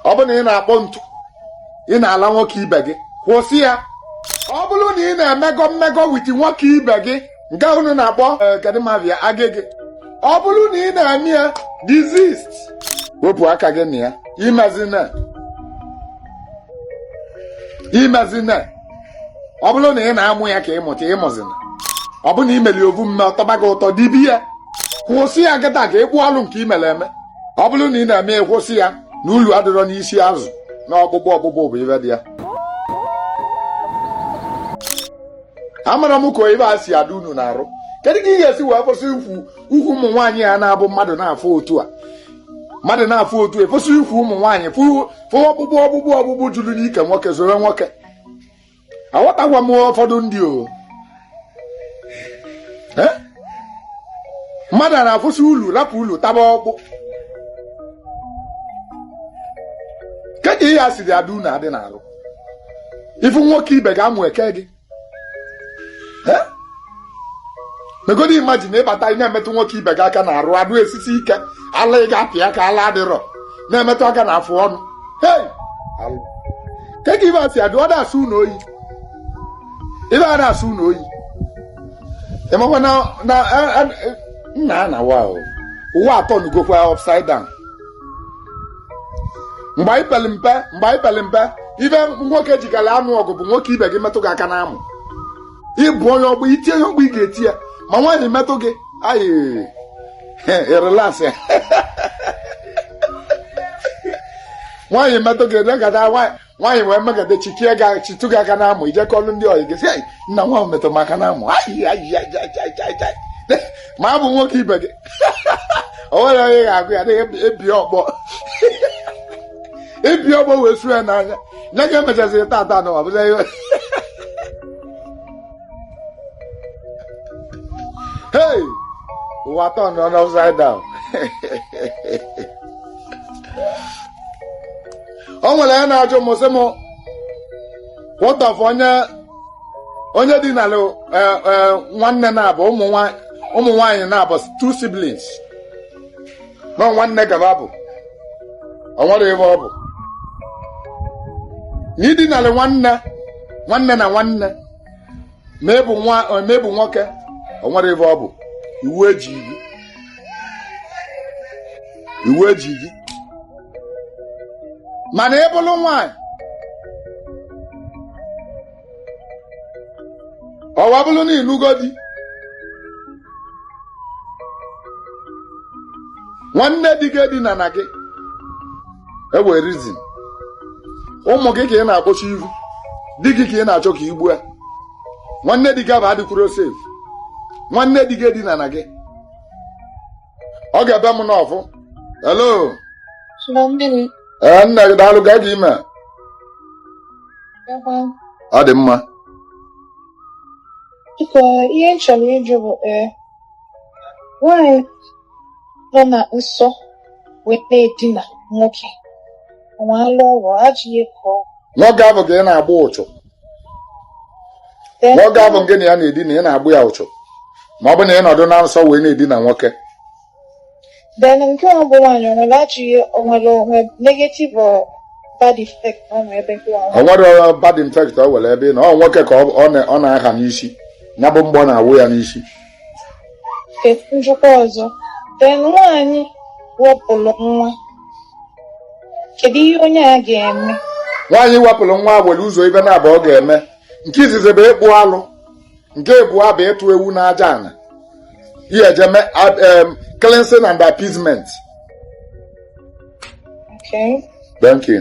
ọ bụrụ na ị na-akpọ ntu ị na-ala nwoke ibe gị kwụsị ya ọ bụrụ na ị na-emegọ mmegọ wit nwoke ibe gị nke unu na-akpọ eh, kedimavia agịgị ọ bụrụ na ị na-eme ya desist wepụ aka gị na ya imezina imezina ọ bụrụ na ị na-amụ ya ka ị mụta ịmụzina ọ bụ na i meli ovu mme ọ tọba gị ụtọ dibe ya kwụsị ya kịta ka ịkpụ ọlụ nke i mere eme ọ bụrụ na ị na-eme ya kwụsị ya na ulu adịrọ n'isi azụ na ọkpụkpụ ọkpụkpụ bụ ive dị ya amarọ m ka ive a si adị unu n'arụ kedu ka ị ga-esi wee kwụsị ukwu ukwu ụmụ nwaanyị ya na-abụ mmadụ na-afụ otu a mmadụ na-afụ otu ekwesịrị ukwu ụmụ nwaanyị fụ ọkpụkpụ ọkpụkpụ ọkpụkpụ juru n'ike nwoke soro nwoke aghọtakwa m ụfọdụ ndị o eh? mmadụ a na-afụsị ulu rapụ ulu taba ọkpụ kedu ka ihe a siri adị unu adị n'arụ ị fụ nwoke ibe gị amụ eke gị megodi imagine ị bata ị na-emetụ nwoke ibe gị aka na arụ a na-esisi ike ala ị ga-apị aka ala adịrọ na-emetụ aka na afụ ọnụ hei kee ka ive a si adị ọ na-asọ unu oyi ive a na-asọ unu oyi ị makwa na na a- a- nna a na wa ụwa atọnụgokwa upside down mgbe anyị pere mpe mgbe anyị pere mpe ive nwoke jikara anụ ọgụ bụ nwoke ibe gị metụ gị aka n'amụ i gbuo onye ọ bụ i tie onye ọ bụ ị ga-eti ya ma nwaanyị metụ gị ayị ị relax ya nwaanyị metụ gị legada nwaanyị wee megada chikie gị chitụ gị aka n'amụ i je kọọlụ ndị ọyị gị sị nna nwa a metụ m aka n'amụ ma ọ bụ nwoke ibe gị o nwere onye ga-agwa ya na-ebi ọkpọ ebi ọkpọ wee su ya n'anya nye ka e mechaziri tata na ọ bụrọ ihe hey ụwa atọnụọ upside down o nwere onye na-ajụ m sị m what of onye onye dinala nwanne naabọ ụmụ nwaanyị naabọ two siblings na nwanne ka va bụ o nwere ebe ọ bụ na i dinalị nwanne nwanne na nwanne ma ị bụ nwa ma ị bụ nwoke o nwere ebe ọ bụ iwu eji gị iwu eji gị mana ị bụlụ nwaanyị ọ wa bụrụ na ị nụgo di nwanne di gị edinana gị e nwe reason ụmụ gị ka ị na-akpọchi ihu di gị ka ị na-achọ ka i gbu ya nwanne di gị abụ adịkwuro safe nwanne di gị edinana gị ọ ga-ebe m n'ọfụ hello Hello, mmiri. ee nna gị daalụ ka gị ime Ebe ọ dị mma Biko, ihe m chọrọ ịjụ bụ ee, nwaanyị nọ na nsọ wee na-edina nwoke, nwa alụ ọrụ, ajọ ihe ka ọ nwoke ahụ ka ị na-agba ụchụ nwoke ahụ ngị na ya na-edina ị na-agba ya ụchụ ma ọ bụ na ị nọdụ na nsọ wee na-edina nwoke then nke ọ bụ nwaanyị o nwere ajọ ihe o nwere o nwe negative or bad effect o nwere ebe nke nwaanyị o nwere bad effect o were ebe na ọ nwoke ka ọ- ọ na- ọ na-aha n'isi ya bụ mgbọ na-awụ ya n'isi Ka m jụkwa ọzọ, then nwaanyị wepụrụ nwa, kedu ihe onye a ga-eme? nwaanyị wepụrụ nwa nwere ụzọ ibe naabọ ọ ga-eme nke izizi bụ ịkpụ alụ nke abụọ bụ ịtụ ewu n'aja ana ihe e ji eme ab- em, cleansing and appeasement Okay. thank you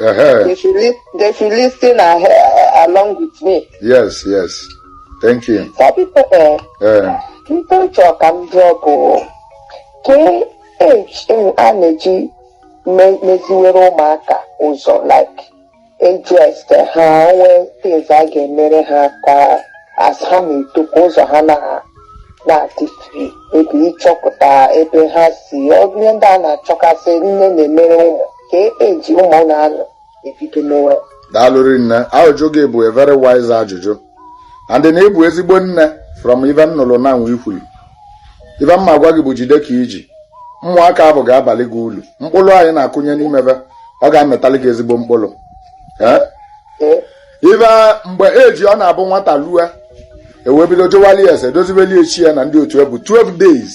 Uh-huh. They should li- they should listen uh, uh, along with me. Yes, yes. Thank you. Some people, eh, Uh, people talk and drop. oh. Ke age a na-eji me- meziwere ụmụaka ụzọ like ages ka ha nwee things a ga-emere ha ka as ha na-eto ka ụzọ ha na na-adị free ebe ịchọpụta ebe ha si ọ bụ ihe ndị a na-achọkasị nne na-emere ụmụ ka eji ụmụ ụlọ anụ ebido mewe daalụ rinne ajụjụ gị bụ a very wise ajụjụ and na ị bụ ezigbo nne from ibe m nụlụ na nwa i kwulu ibe m ma-agwa gị bụ jide ka i ji ụmụaka ahụ ga-abalị gị ulu mkpụrụ anyị na-akụnye n'ime be ọ ga-amịtalị gị ezigbo mkpụrụ ee ee ibe mgbe e ji ọ na-abụ nwata lue e wee bido jụwalị ese dozibeli ya chi ya na ndị otu ya bụ 12 days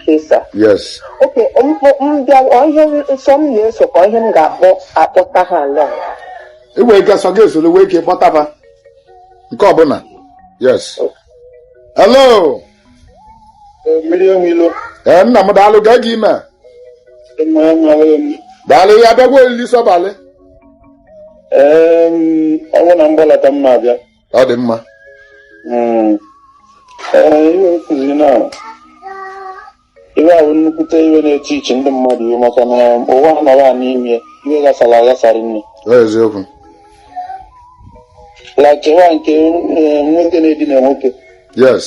Okay, sir. yes okay m bịa ihe nsọ m na-eso ka ihe m ga-akpọ akpọta ha along i nwere ike sọ gị esoro wee ike kpọtaba nke ọbụla yes hello mmiri omilo ee nna m daalụ gaa gị ime mmanya mara emi daalụ ya bịagwa olili sọbalị ọnwụ na mgbalata mma abịa ọ dị mma hmm. ihe okụzi na iwe ahụ nnukwute iwe n'etiti ndị mmadụ iwe maka na ụwa nọrọ a n'ime iwe ghasara aghasara nne eziokwu like wa nke eh, nwoke na-edina nwoke yes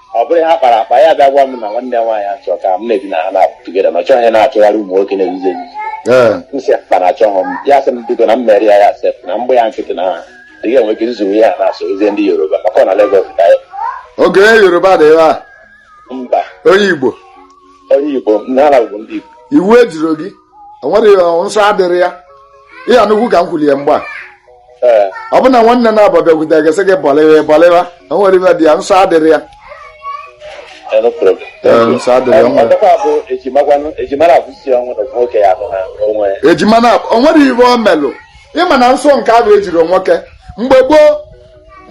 ọ bụrụ ha kpara akpa ya bịa gwa m na nwanne ya nwaanyị achọ ka m na-ebi na ha na-apụ together na ọ chọghị ya na-achọgharị ụmụ nwoke na-ezuzi ezuzi ee m sị akpa na achọghị m ya sị m bido na m mere ya ya sef na mgbe ya nkịtị na ha dị ga enwe ike izuru ihe a na-asọ ezie ndị Yoruba maka ọ na Lagos ka ya oge onye Yoruba dị ebe a mba onye Igbo onye Igbo n'ala bụ ndị Igbo iwu ejiro gị o nwere nsọ adịrị ya ihe anụkwu ka m kwuli ya mgbe a eh. ọ bụ na nwanne naabọ bịakwute gị sị gị bọlịwa bọlịwa o nwere ibe dị ya nsọ adịrị ya eh, nsọ adịrị ya ejima na o nwere ibe o melụ ị ma na nsọ nke ahụ ejiro nwoke mgbe gboo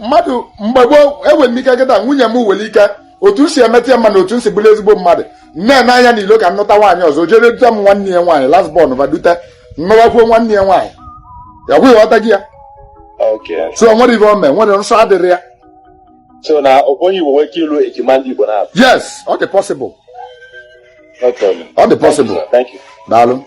mmadụ mgbe gboo enwere m ike kuta nwunye m nwere ike otu m si emeta ya mma na otu m si bụrụ ezigbo mmadụ nne na anya n'ilo ka m nụta nwaanyị ọzọ jere dute m nwanne ya nwaanyị last born va dute m nụwakwuo nwanne ya nwaanyị ya gwụ ị ghọtago ya Okay. so o nwere ibe o mee nwere nsọ adịrị ya So na onye Igbo nwere ike ịlụ ejima ndị Igbo naabọ. yes ọ dị possible No problem. ọ dị possible Thank you. daalụ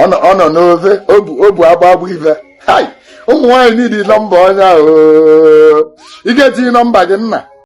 ọ nọ- ọ nọ n'ofe obu obu agba agba ife hai ụmụ nwaanyị niile nọmba onye ahụ ị ga-etinye nọmba gị nna